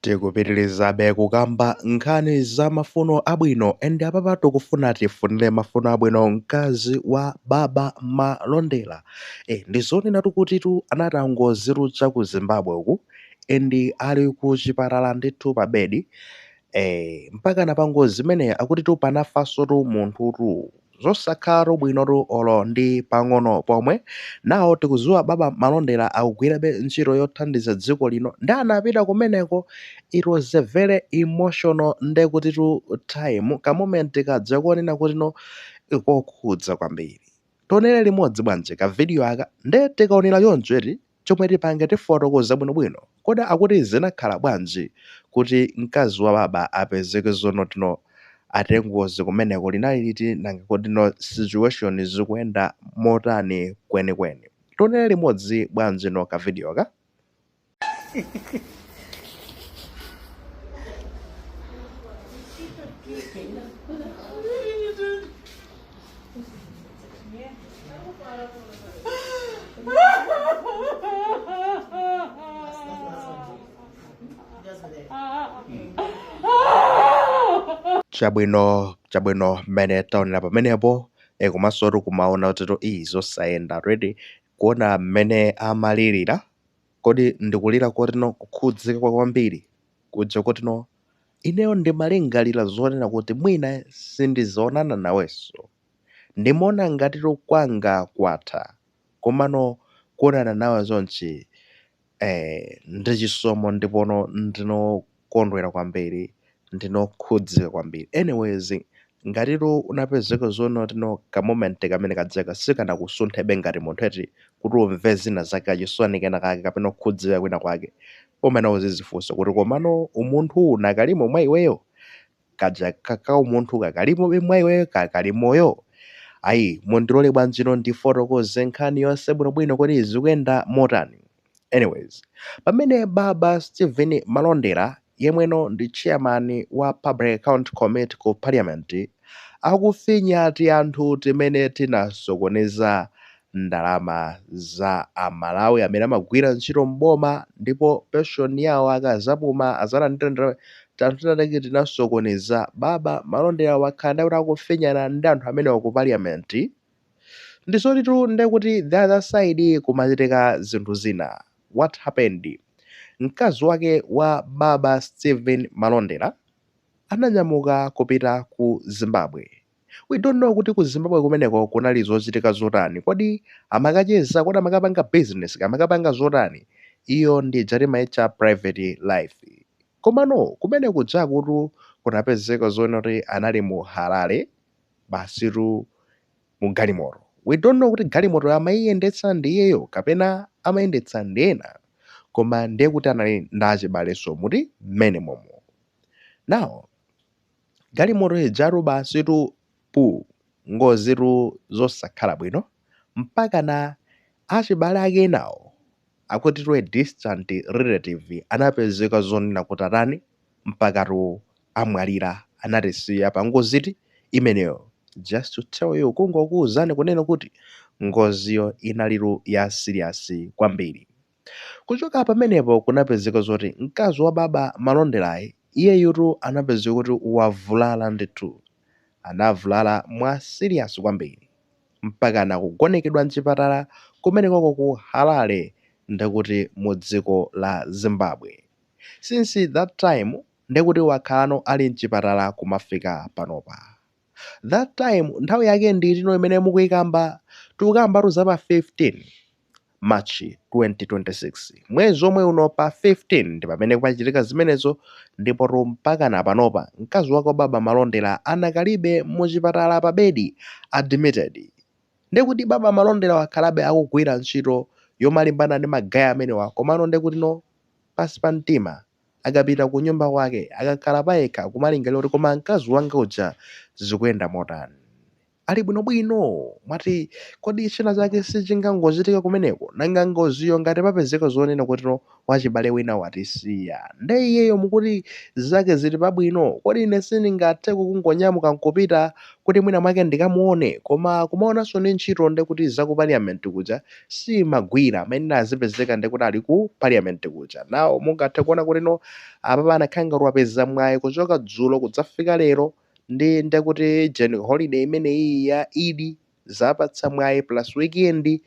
Tikupitilizabe kukamba nkhani za mafuno abwino and apapa tikufuna tifunile mafuno abwino mkazi wa baba Malondera eh ndizonenatu kutitu anati anangozivulaza ku zimbabwe uku and ali ku chipatala ndithu pa bed eh mpakana pa ngozi imeneyi akutitu panafansotu munthutu Zosakhalatu bwinotu olo ndi pang'ono pomwe. Now tikudziwa baba malondera akugwirabe ntchito yothandiza dziko lino nde anapita kumeneko it was a very emotional ndekutitu time ka moment kaja konena kuti no kokhudza kwambiri. Tionere limodzi bwanji ka video aka nde tikaonera choncho eti. chomwe tipange tifotokoza bwino bwino kodi akuti zinakhala bwanji kuti mkazi wa baba apezeke zonoti no achita ngozi kumeneko linali liti nanga kodi no situation zikuenda motani kweni kweni tionele limodzi bwanji no ka video ka chabwino chabwino mmene taonera pamenepo e, komanso tikumaona kutitu iii zosayenda already kuona mmene amalirira Kodi ndi kulira koti no, kukhudzika kwa kwambiri kuja koti no, ineyo ndimalingalira zonena kuti mwina sindizaonana nawenso? Ndimaona ngatitu kwanga kwatha, komano kuonana nawe chonchi, eh, ndi chisomo ndipono ndino kondwera kwambiri ndino khudzika kwambiri anyways ngatitu unapezeka zonoti no ka moment kamene kajaka sikanakusunthebe ngati munthu eti kuti umve zina zake kachisoni kena kake kapena kukhudzika kwina kwake umayenera uzizifunsa kuti komano umunthu uwu unakalimo mwa iweyo kaja kakaumunthu kakalimobe mwa iweyo kakali moyo? Ayi, mundilole bwanji no ndifotokoze nkhani yonse bwinobwino kuti zikuyenda motani. Anyways, pamene Baba Steven Malondera, yemweno ndi chairman wa Public Account Committee ku Parliament, akufinya tianthu timene tinasokoneza ndalama za a Malawi amene amagwira ntchito m'boma ndipo pension yawo akazapuma azalandire tianthu tina take tinasokoneza baba malondera wakhala nde kuti akufinyana ndi anthu amenewa ku parliament ndizotitu nde kuti the other side kumachitika zinthu zina what happened mkazi wake wa baba Steven Malondera ananyamuka kupita ku Zimbabwe. We don't know kuti ku Zimbabwe kumeneko kunali zochitika zotani. Kodi amakacheza, kodi amakapanga business, amakapanga zotani? Iyo ndi ija timaitcha private life. Komano kumene kujakutu kunapezeka zoona kuti anali mu Harare basitu mu galimoto. We don't know kuti galimoto amaiyendetsa ndi iyeyo kapena amayendetsa ndi ena. Koma ndiye kuti anali ndi achibalenso muti mmene momo. Now, Galimoto ijatu basitu puu! Ngozitu zosakhala bwino, mpakana achibale ake enawo akutitu a distant relative anapezeka zonena kuti atani mpakatu amwalira anatisiya pangozitu imeneyo. Just to tell you, kungokuuzani kunena kuti ngoziyo inalitu ya serious kwambiri. Kuchoka pamenepo kunapezeka zoti mkazi wa baba Malonderayi iyeyutu anapezeka kuti wavulala ndithu. Anavulala mwa serious kwambiri mpakana kugonekedwa mchipatala kumenekoko ku Harare ndekuti mu dziko la Zimbabwe. Since that time ndekuti wakhalano ali mchipatala kumafika panopa. That time nthawi yake ndi itino, imene mukuyikamba? Tikukambatu za pa 15 March 2026. Mwezi omwe uno pa 15 ndi pamene kwachitika zimenezo ndipotu mpakana panopa mkazi wake wababa Malondera anakalibe mu chipatala pa bedi, admitted. Nde kuti baba Malondera wakhalabe akugwira ntchito yomalimbana ndi ma gay amenewa komano ndekutino pansi pa mtima. akapita kunyumba kwake akakhala payekha kumalingalira kuti koma mkazi wanga uja zikuyenda motani? Ali bwinobwino? Mwati kodi china chake sichingangochitika kumeneko? Nanga ngoziyo ngati papezeka zonena kutino wachibale wina watisiya, nde iyeyo mukuti zake zili pabwino? Kodi ine sindingatheko kungonyamuka nkupita kuti mwina mwake ndikamuone? Koma kumaonanso ndi ntchito nde kuti za ku parliament kuja simagwira amayenera azipezeka ndi kuti ali ku parliament kuja nawo mungathe kuona kutino apapa anakhala ngati wapeza mwayi kuchoka dzulo kudzafika lero ndi ndekuti jen holiday imeneyi ya Eid zapatsa mwayi plus weekend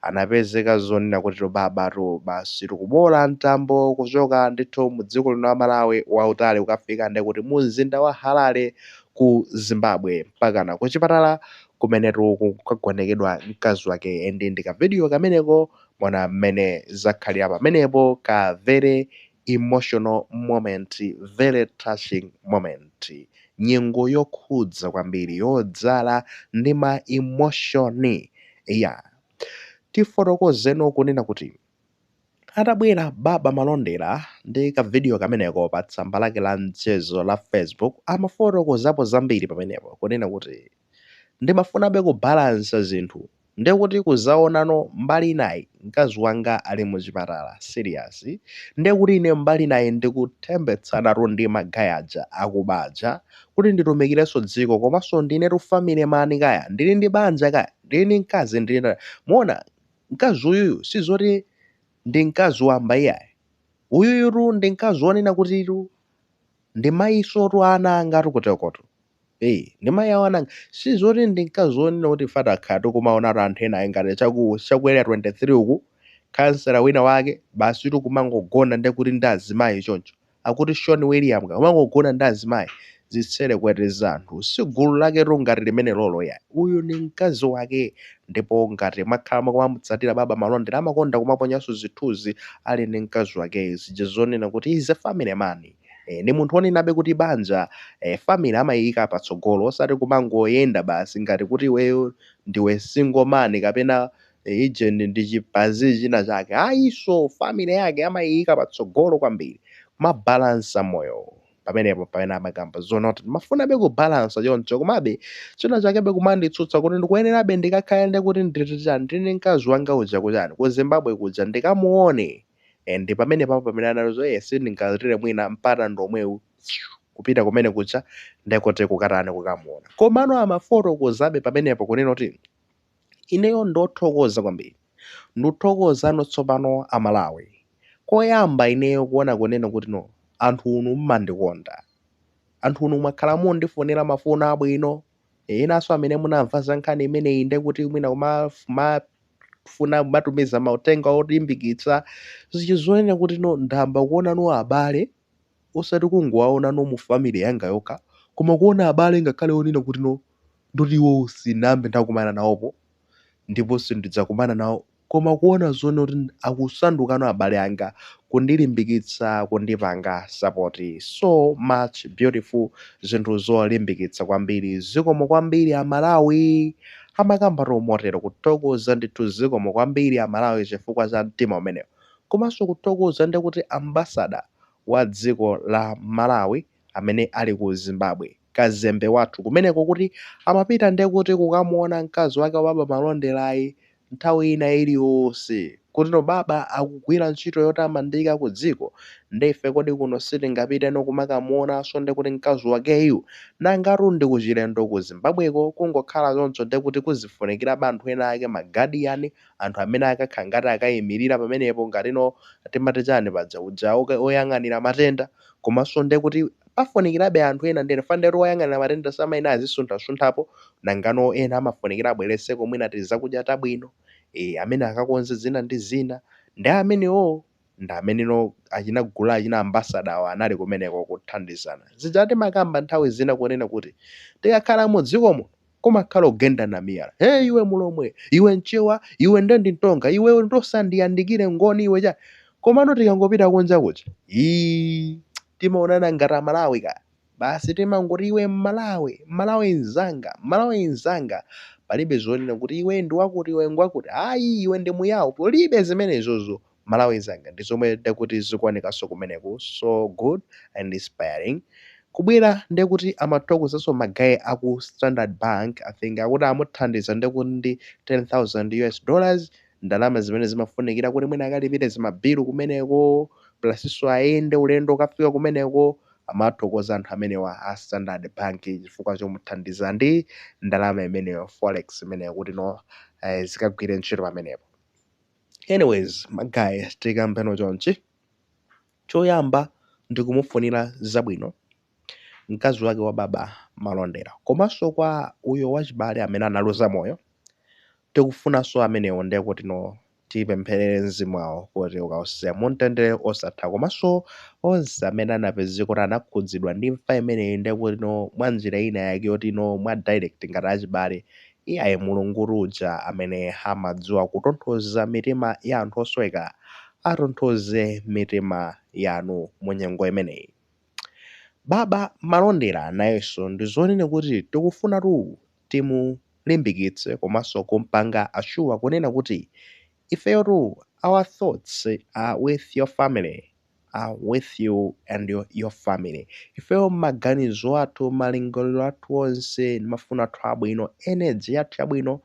anapezeka zonena kuti babatu basi kuboola mtambo kuchoka ndithu mu dziko lino la malawi wautali wokafika ndekuti mu mzinda wa harare ku zimbabwe mpakana kuchipatala kumenetu kukagonekedwa mkazi wake and ndi ka video kameneko mwaona mmene zakhalira pamenepo ka very emotional moment very touching moment nyengo yokhudza kwambiri yodzala ndi ma emotion yeah tifotokozeno kunena kuti Atabwera Baba Malondera ndi ka video kameneko pa tsamba lake la mchezo la Facebook amafotokozapo zambiri pamenepo kunena kuti ndimafunabe kubalansa zinthu ndiye kuti kuzaonano mbali inayi mkazi wanga ali mu chipatala serious ndiye kuti ine mbali inayi ndikuthembetsanatu ndi magaya aja akuba aja kuti nditumikirenso dziko komanso ndinetu family mani kaya ndili ndi banja kaya ndili ndi mkazi ndili muona Mkazi uyuyu si zoti ndi mkazi wamba iyayi. Uyuyutu ndi mkazi wonena kutitu ndi mayisotu wa ana angatu kutereku. Ee, ndi mayi awo ana anga. Si zoti ndi mkazi wonena kuti ife takhala tikumaonatu anthu ena ngati chaku area 23 uku, kansela wina wake, basitu kumangogona ndi kuti ndi azimayi choncho. akuti sean william ka kumangogona ndi azimayi zitsere kupweteka anthu si gulu laketu ngati limenelolo iyayi uyu ndi mkazi wake ndipo ngati mwakhala mukumamutsatira baba malondera amakonda kumaponyanso zithuzi ali ndi mkazi wakeyo zija zonena kuti is a family man E, ndi munthu onenabe kuti banja e, family amayiyika patsogolo osati kumangoyenda basi ngati kuti iweyo ndiwe single man kapena agent ndi chibazi china chake. Ayiso, family yake amayiyika patsogolo kwambiri. Kumabalansa moyo. Pamenepo pamene amakamba zoona kuti ndimafunabe kubalansa choncho komabe china chakebe kumanditsutsa kuti ndikuyenerabe ndikakhale nde kuti nditi chani ndili ndi mkazi wanga uja kuchani, ku Zimbabwe kuja ndikamuone eh ndi pamenepapo pamene anali zo eh sindingataye mwina mpata ndi omwewu kupita kumene kuja nde kuti kukatani kukamuona. Komano amafotokozabe pamenepo kunena kuti Ineyo ndithokoza kwambiri. Ndithokozano tsopano a Malawi. Koyamba ineyo kuona kunena kuti no anthunu mmandikonda. Anthunu mwakhala mundifunira mafuno abwino. Enanso amene munamva za nkhani imeneyi nde kuti mwina mumafuna kumatumiza mauthenga olimbikitsa. Zija zonena kuti no ndayamba kuonano abale. osati kungowaonano mu family yanga yokha koma kuona abale ngakhale onena kuti no ndoti iwowo sinambe ndakumana nawopo ndipo sindidzakumana nawo koma kuona zoona kuti akusandukano abale anga kundilimbikitsa kundipanga support so much beautiful zinthu zolimbikitsa kwambiri zikomo kwambiri amalawi amakambatu motero kuthokoza ndithu zikomo kwambiri amalawi chifukwa cha mtima umenewo. komanso kuthokoza ndi kuti ambassador wa dziko la Malawi amene ali ku Zimbabwe, kazembe wathu kumeneko kuti amapita ndi kuti kukamuona mkazi wake wa Baba Malonderayi nthawi ina iliyonse. kuti no Baba akugwira ntchito yotamandika ku dziko ndi ife kodi kuno sitingapiteno kumakamuonanso ndi kuti mkazi wakeyu? Nangatu ndi kuchilendo ku Zimbabweko, kungokhala choncho ndi kuti kuzifunikirabe anthu ena ake, ma guardian, anthu amene akakhala ngati akayimirira pamenepo ngati no timati chani paja uja woyang'anira matenda komanso ndiye kuti pafunikirabe anthu ena ndiye chifukwa woyang'anira matenda samayenera azisunthasunthapo nangano ena amafunikira abweretseko mwina tizakudya tabwino e, amene akakonze zina ndi zina ndiye amenewowo ndi amene no achina gulu achina ambasada awo anali kumeneko kuthandizana zija timakamba nthawi zina kunena kuti tikakhala mu dziko muno kumakhala ogendana ndi miyala, hee iwe mulomwe, iwe mchewa, iwe nde ndi mtonga, iwe usandiyandikire ngoni iwe chani. Komano tikangopita kunja kuja ii timaonana ngati amalawi ka basi timangoti iwe mmalawi, mmalawi mzanga, mmalawi mzanga. Palibe zonena kuti iwe ndi wakuti iwe ngwakuti ayi iwe ndi muyao, palibe zimenezozo. mmalawi nzanga ndizomwe ndekuti zikuonekaso kumeneko so good and inspiring kubwera ndekuti amathokozaso ma guy aku standard bank i think akuti amuthandiza ndekuti ndi 10,000 US dollars ndalama zimene zimafunikira kuti mwina akalipire zima bill kumeneko plus so ayende ulendo okafika kumeneko amathokoza anthu amenewa a standard bank chifukwa chomuthandiza ndi ndalama imeneyo forex imeneyo kuti no zikagwire ntchito pamenepo. Anyways ma guy tikambeno chonchi, choyamba ndikumufunira zabwino mkazi wake wa baba malondera komaso kwa uyu wachibale amene analuza moyo tikufunaso amenewo ndekutino tipempherere mzimu wawo kuti ukawuse mumtendere osatha komaso onse amene anapezeka kuti anakhudzidwa ndi imfa imeneyi ndekutino mwanjira ina yake yotino mwa direct ngati achibale Iyayi, Mulungu uja amene amadziwa kutonthoza mitima ya anthu osweka, atonthoze mitima yanu mu nyengo imeneyi. Baba Malondera nayenso ndi zonena kuti tikufunatu timulimbikitse komanso kumpanga assure kunena kuti ifeyotu our thoughts are with your family. are with you and your family ifeyo maganizo athu malingaliro athu onse ndi mafuno athu abwino energy yathu yabwino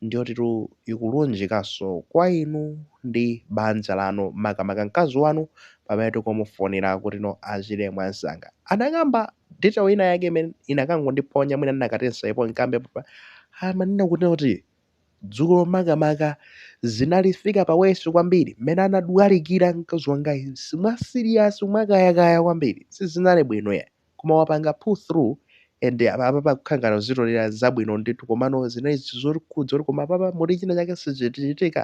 ndiyotitu ikulunjikaso kwa inu ndi banja lanu makamaka mkazi wanu pamene tikumufunira kutino achire mwansanga anakamba detail ina yake imene inakangondiphonya mwina ndinakati nsaipo nkambe papa amanena kutino kuti Dzulo makamaka zinalifika pa worse kwambiri mmene anadwalikira mkazi wangayi mwa serious mwakayakaya kwambiri sizinali bwino ya koma wapanga pull through and apa apapa kukhala ngati akuzitolera zabwino ndithu komano zinali zokhudza kuti koma apapa muli china chake chitichitikira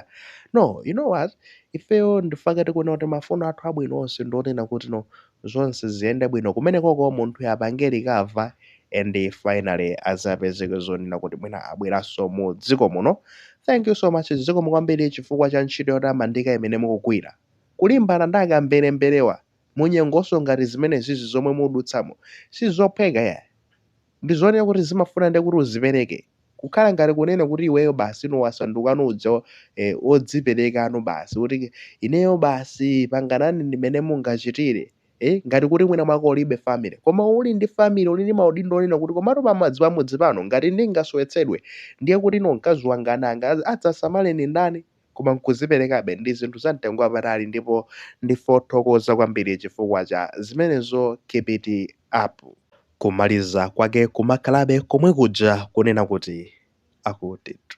no you know what ifeyo ndi chifukwa chake tikuona kuti mafuno athu abwino onse ndi onena kuti no zonse ziyende bwino kumenekoko munthuyo apange recover and finally azapezeke zonena kuti mwina abweranso mu dziko muno thank you so much zikomo kwambiri chifukwa cha ntchito yotamandika imene mukugwira kulimbana ndi akamberemberewa munyengonso ngati zimenezizi zomwe mukudutsamo sizophweka ya Ndi zooneka kuti zimafuna ndiye kuti uzipereke. Kukhala ngati kunena kuti iweyo basi wasandukano uja odziperekano basi kuti ineyo basi panganani mmene mungachitire. Eh, ngati kuti mwina mwake ulibe family. Koma uli ndi family, uli ndi maudindo onena kuti komatu pamadzi pamudzi pano ngati ndingasowetsedwe ndiye kuti no mkazi wanga ana anga adzasamale ni ndani? koma n'kudziperekabe ndi zinthu zamtengo wapatali ndipo ndife othokoza kwambiri chifukwa cha zimenezo keep it up. Kumaliza kwake kumakhalabe komwe kuja kunena kuti akutitu.